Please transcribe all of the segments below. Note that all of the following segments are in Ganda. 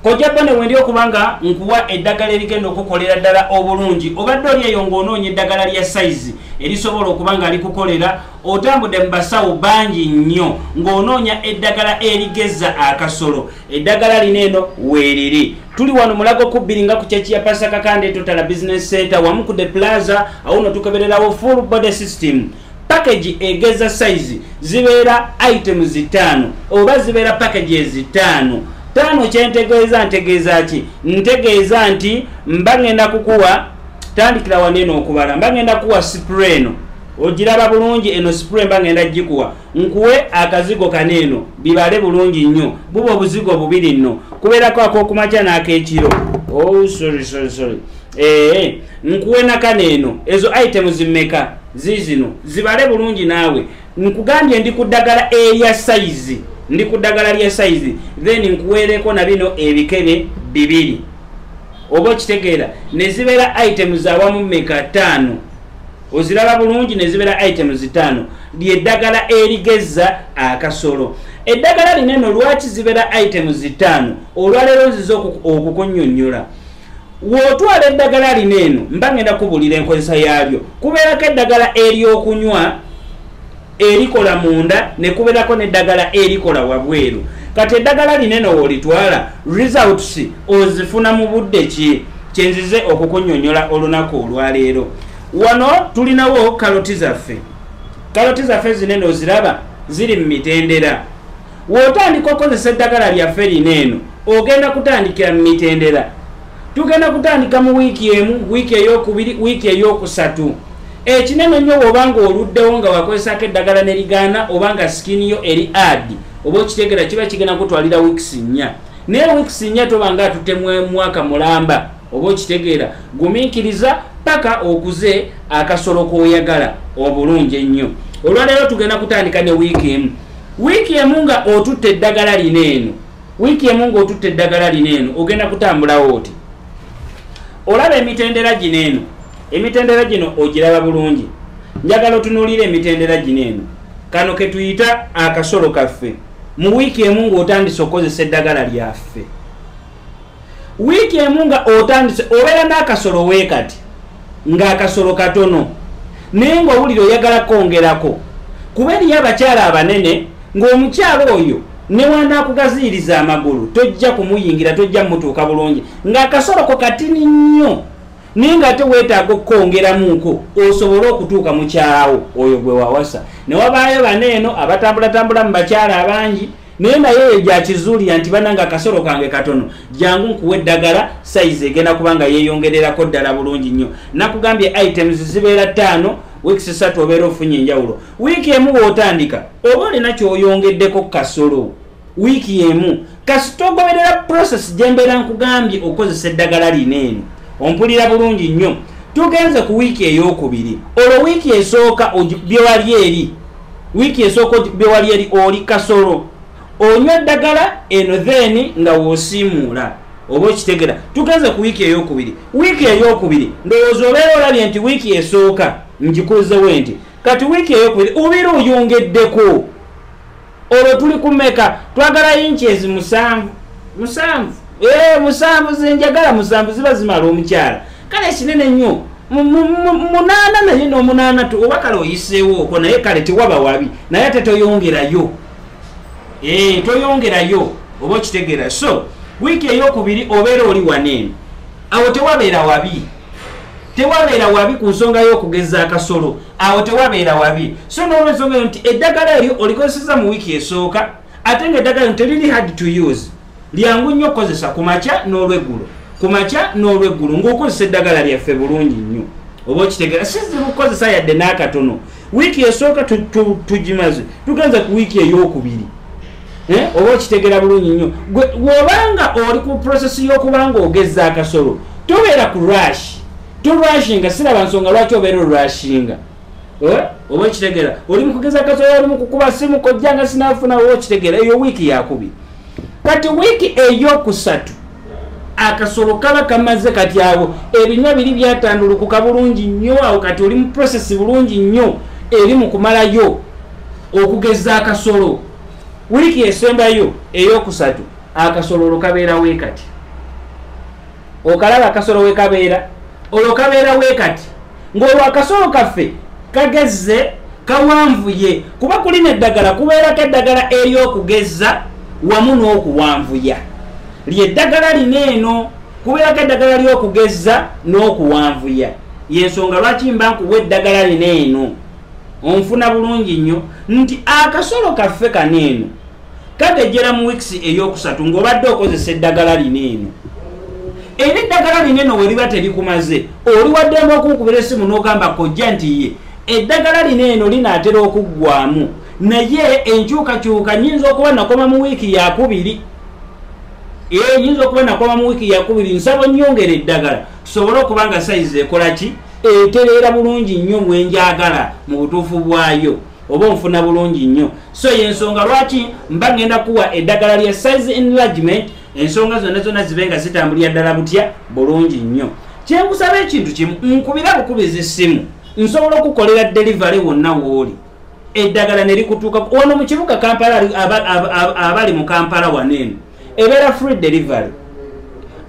kojja bone wendi okuba nga nkuwa eddagala erigenda okukolera ddala obulungi obadde oli eyo ng'onoonya eddagala lya sayizi erisobola okuba nga likukolera otambudde mu basawo bangi nnyo ng'onoonya eddagala erigeza akasolo eddagala lino eno weeriri tuli wano mulago kubbiri nga ku kyeki ya pasaka kande totala bizinesi senta wamu ku de plaza awo no tukebererawo full body system package egeza size zibeera item zitaano oba zibeera package ezitaano taano kyentegeeza ntegeeza ki ntegeeza nti mba ŋenda kukuwa tandikira wano eno okubala mba ŋenda kuwa sipre eno ogiraba bulungi eno sipre mba ŋenda gikuwa nkuwe akazigo kano eno bibale bulungi nnyo buba obuzigo bubiri nno kubeerako akokumakya n'akekiro oh, sorry, sorry, sorry. ee nkuwenakana eno ezo itemu zimmeka ziizino zibale bulungi naawe nkugambye ndi ku ddagala erya sayizi ndi ku ddagala lya sayizi then nkuweereko na bino ebikebe bibiri oba okitegeera ne zibeera itemu zawamu mmeka ttaano oziraba bulungi ne zibeera itemu zitaano lyeddagala erigezza akasolo eddagala lineno lwaki zibeera itemu zitaano olwaleero nziza okukunyonyola wotwala eddagala lino eno mba ngenda kubulira enkozesa yalyo kubeerako eddagala eryokunywa erikola munda nekubeerako neddagala erikola wabweru kati eddagala lino eno wolitwala results ozifuna mu budde ki kyenzize okukunyonyola olunaku olwaleero wano tulinawo kaloti zaffe kaloti zaffe zinene oziraba ziri mu mitendera Wotandika okozesa eddagala lyaffe lino eno ogenda kutandikira mu mitendera. Tugenda kutandika mu wiiki emu, wiiki eyokubiri, wiiki eyokusatu. Ekinene nnyo woba nga oluddewo nga wakozesako eddagala ne ligaana oba nga sikini yo eri adi oba okitegera kiba kigenda kutwalira wiikisi nnya. Naye wiikisi nnya toba nga atute mwaka mulamba. oba okitegeera gumiikiriza paka okuze akasolo koyagala obulungi ennyo olwaleero tugenda kutandika ne wiiki emu wiiki emu nga otutte eddagala lina eno wiiki emu nga otutte eddagala lina eno ogenda kutambulawo oti olaba emitendera gino eno emitendera gino ogiraba bulungi njagala otunuulira emitendera gino eno kano ketuyita akasolo kaffe mu wiiki emu ngaotandise okukozesa eddagala lyaffe wiiki emu nga otandise obeera n'akasolo weekati ng'akasolo katono naye ng'owulira oyagala kwongerako kuba eriyo abakyala abanene ng'omukyala oyo newanaakugaziiriza amagulu tojja kumuyingira tojja mutuuka bulungi ng'akasoloko katini nnyo naye nga ate weetaaga okukwongeramuko osobole okutuuka mukyalawo oyo gwe wawasa ne wabaayo bano eno abatambulatambula mu bakyala abangi naye naye eyo gyakizuulira nti bananga akasolo kange katono jangu nkuwa eddagala sayizi egenda kubanga yeeyongererako ddala bulungi nnyo nakugambye items zibeera ttaano wiiki satu obeera ofunye enjawulo wiiki emu wootandika oba olina kyoyongeddeko kasolo wiiki emu kasita ogoberera process gye mbeera nkugambye okukozesa eddagala lino eno ompulira bulungi nnyo tugenze ku wiiki ey'okubiri olwo wiiki esooka byewali eri wiiki esooka obe wali eri oli kasolo onywa eddagala eno then nga wosiimuula oba okitegera tugenze ku wiiki eyokubiri wiiki eyokubiri ndowooza obeera olabye nti wiiki esooka ngikuzewo nti kati wiiki eyokubiri obeera oyongeddeko olwo tuli kumeka twagala yinki ezi musanvu musanvu ee eh, musanvu zenjagala musanvu ziba zimala omukyala kale kinene nnyo munaana naye nomunaana tu oba kale oyiseewo oko naye kale tewaba wabi naye ate toyongerayo eh, toyongerayo oba okitegeera so wiiki eyokubiri obeera oli waneeno awo tewabeera wabi tewabeera wabi ku nsonga y'okugeza akasolo awo tewabeera wabi so nolwensonga yo nti eddagala eryo olikozeseza mu wiiki esooka ate nga eddagala yo teriri hard to use lyangu nnyo okukozesa ku makya n'olweggulo ku makya n'olweggulo ng'okozesa eddagala lyaffe bulungi nnyo oba okitegera sizibu kukozesa yadde n'akatono wiiki esooka tugimaze tugenza ku wiiki ey'okubiri eh, oba okitegera bulungi nnyo wobanga oli ku prosesi y'okubanga ogeza akasolo tobeera ku rashi tolwashinga siraba nsonga lwaki obeera olwashinga eh, oba okitegera oli mukugeza akasolo oli mukukuba simu kojjanga sinafuna oba okitegera eyo wiiki yakubiri kati wiiki eyokusatu akasolo kaba kamaze kati awo ebinywa biri byatandulukuka bulungi nnyo awo kati oli mu process bulungi nnyo eri mu kumalayo okugeza akasolo wiiki esembayo eyokusatu akasololo kabeerawo ekati okalaba akasolo wekabeera olwo kabeera wekati ng'olwo akasolo kaffe kagezze kawanvuye kuba kulina eddagala kubeerako eddagala ery'okugezza wamu n'okuwanvuya lyeddagala lina eno kubeerako eddagala ly'okugezza n'okuwanvuya yensonga lwaki mba nkuwa eddagala lina eno onfuna bulungi nnyo nti akasolo kaffe kano eno kakejjera mu wiks eyokusatu ngaobadde okozesa eddagala lino eno era eddagala lino eno weriba terikumaze oli waddemba okunkubira esimu n'ogamba kojja nti ye eddagala lino eno linaatera okuggwamu naye enkyukakyuka nyinza okuba nakoma mu wiiki yakubiri ee nyinza okuba nakoma mu wiiki yakubiri nsaba nyongera eddagala tusobole okuba nga sayizi ekola ki etereera bulungi nnyo bwenjagala mu butuufu bwayo oba onfuna bulungi nnyo so yensonga lwaki mba ngenda kuwa eddagala lya size enlargement ensonga zonna zonna zibe nga zitambulira ddala butya bulungi nnyo kyenkusaba ekintu kimu nkubira bukubiza essimu nsobola okukolera delivery wonna wooli eddagala ne likutuuka wano mu kibuga kampala abali mu kampala waneeno ebeera free delivery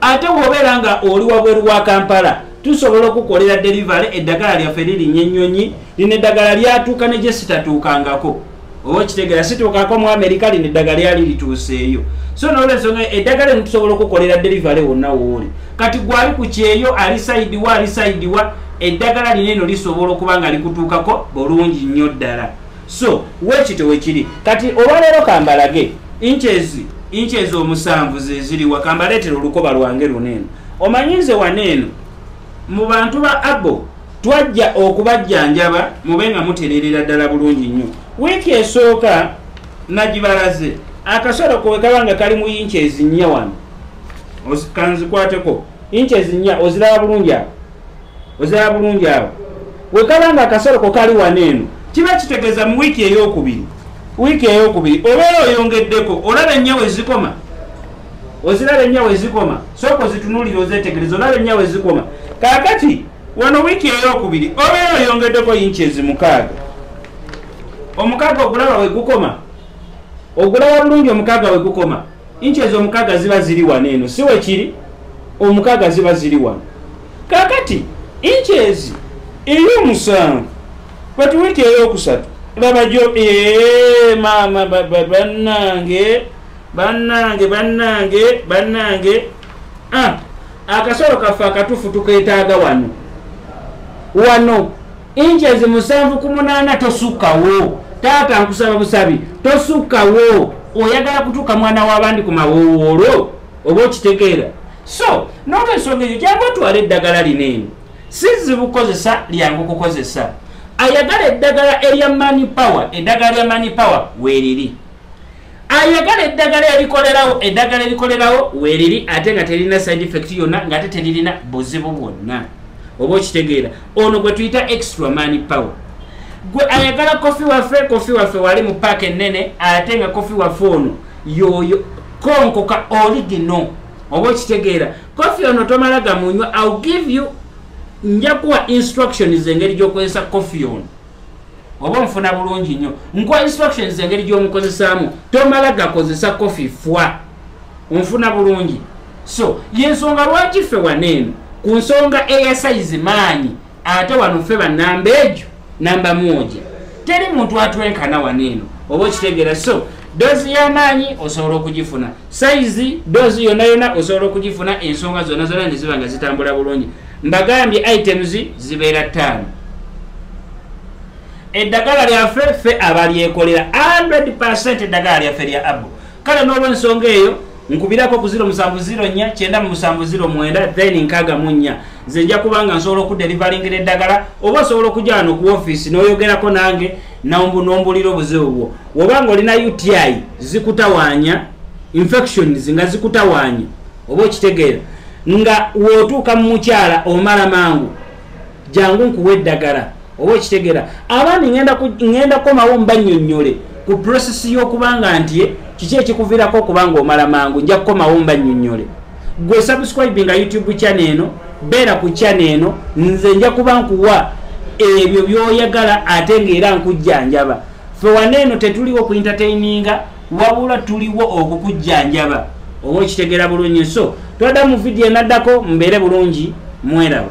ate wobeera nga oli wabweru wa kampala tusobola okukolera delivery eddagala lyaffe lirinya ennyonyi lino eddagala lyatuuka ne gyesitatuukangako oba okitegera situukako mu amerika lino eddagala lyali lituuseeyo so nolwensonga eddagala eno tusobola okukolera delivery wonna wooli kati gwali ku kyeyo ali saidiwa ali saidiwa eddagala lino eno lisobola okuba nga likutuukako bulungi nnyo ddala so wekito wekiri kati olwaleero kambalage inches inches omusanvu zeziriwa kambaleetera olukoba lwange luneeno omanyi nze waneeno mu bantu ba abo twajja okubajjanjaba mube nga mutereerera ddala bulungi nnyo wiiki esooka nagibalaze akasolo kowe kaba nga kali mu inches nnya wano kanzikwateko inches nnya oziraba bulungi awo ozala bulungi awo wekaba nga akasolo ko kali wano eno kiba kitegeeza mu wiiki eyokubiri wiiki eyokubiri obeera oyongeddeko olaba ennyawo ezikoma oziraba ennyawo ezikoma sooka ozitunulira ozetegereza olaba ennyawo ezikoma kakati wano wiiki eyokubiri obeera oyongeddeko yinki ezimukaaga omukaaga ogulaba wegukoma ogulaba bulungi omukaaga wegukoma inchi ezo omukaga ziba ziri wano eno si wekiri omukaga ziba ziri wano kakati inchi ezi ey'omusanvu kati wiiki ey'okusatu laba gyo ee maama baba bannange bannange bannange bannange ah, akasolo kaffe akatufu tukeetaaga wano wano inches musanvu ku munaana tosukkawo taata nkusaba busabi tosukkawo oyagala kutuuka mwana w'abandi ku mawowoolo oba okitegeera so noto ensonga eyo jangu otwala eddagala lino eno si zibu kukozesa lyangu kukozesa ayagala eddagala erya mani power eddagala lya mani power weeriri ayagala eddagala erikolerawo eddagala erikolerawo weriri ate nga terina side effect yonna ngaate teririna buzibu bwonna oba okitegeera ono gwe tuyita extra mani power gwe ayagala kofi waffe kofi waffe wali mu paaka ennene ate nga kofi waffe ono yoyo konkoka oligino oba okitegeera kofi ono tomala gamunywa ill give you njakuwa instructions engeri gyokozesa kofi ono oba omufuna bulungi nnyo nkuwa instructions engeri gy'omukozesaamu tomala gakozesa kofi fwa onfuna bulungi so yensonga lwaki ffe wano eno ku nsonga eya sayizi maanyi ate wano ffe banamba egyo namba mwoja teri muntu atwenkana wano eno oba okitegeera so doozi y'amaanyi osobola okugifuna sayizi doozi yonna yonna osobola okugifuna ensonga zonna zonna ne ziba nga zitambula bulungi mbagambye items zibeera ttaano eddagala lyaffe ffe abalyekolera 100 percent eddagala lyaffe lya abu kale n'olwensonga eyo nkubirako ku 0799709 then nkaga mu nnya nze nja kubanga nsobola okuderivalingira eddagala oba osobola okujaa no ku ofiisi n'oyogerako nange nombulira obuzibu bwo wobanga olina uti zikutawaanya infections nga zikutawaanya oba okitegeera nga wotuuka mu mukyala omala mangu jangu nkuwa eddagala oba okitegera abandi ŋenda kukomawo mbanyonyole ku process y'okuba nga nti kiki ekikuvirako okuba nga omala mangu nja kukomawo mbanyonyole gwe subscribe nga youtube channel eno beera ku channel eno nze nja kuba nkuwa ebyo byoyagala ate ngaera nkujjanjaba fe waneeno tetuliwo ku entertaininga wabula tuliwo okukujjanjaba oba okitegera bulungi so twada mu vidiyo enaddako mbeere bulungi mweraba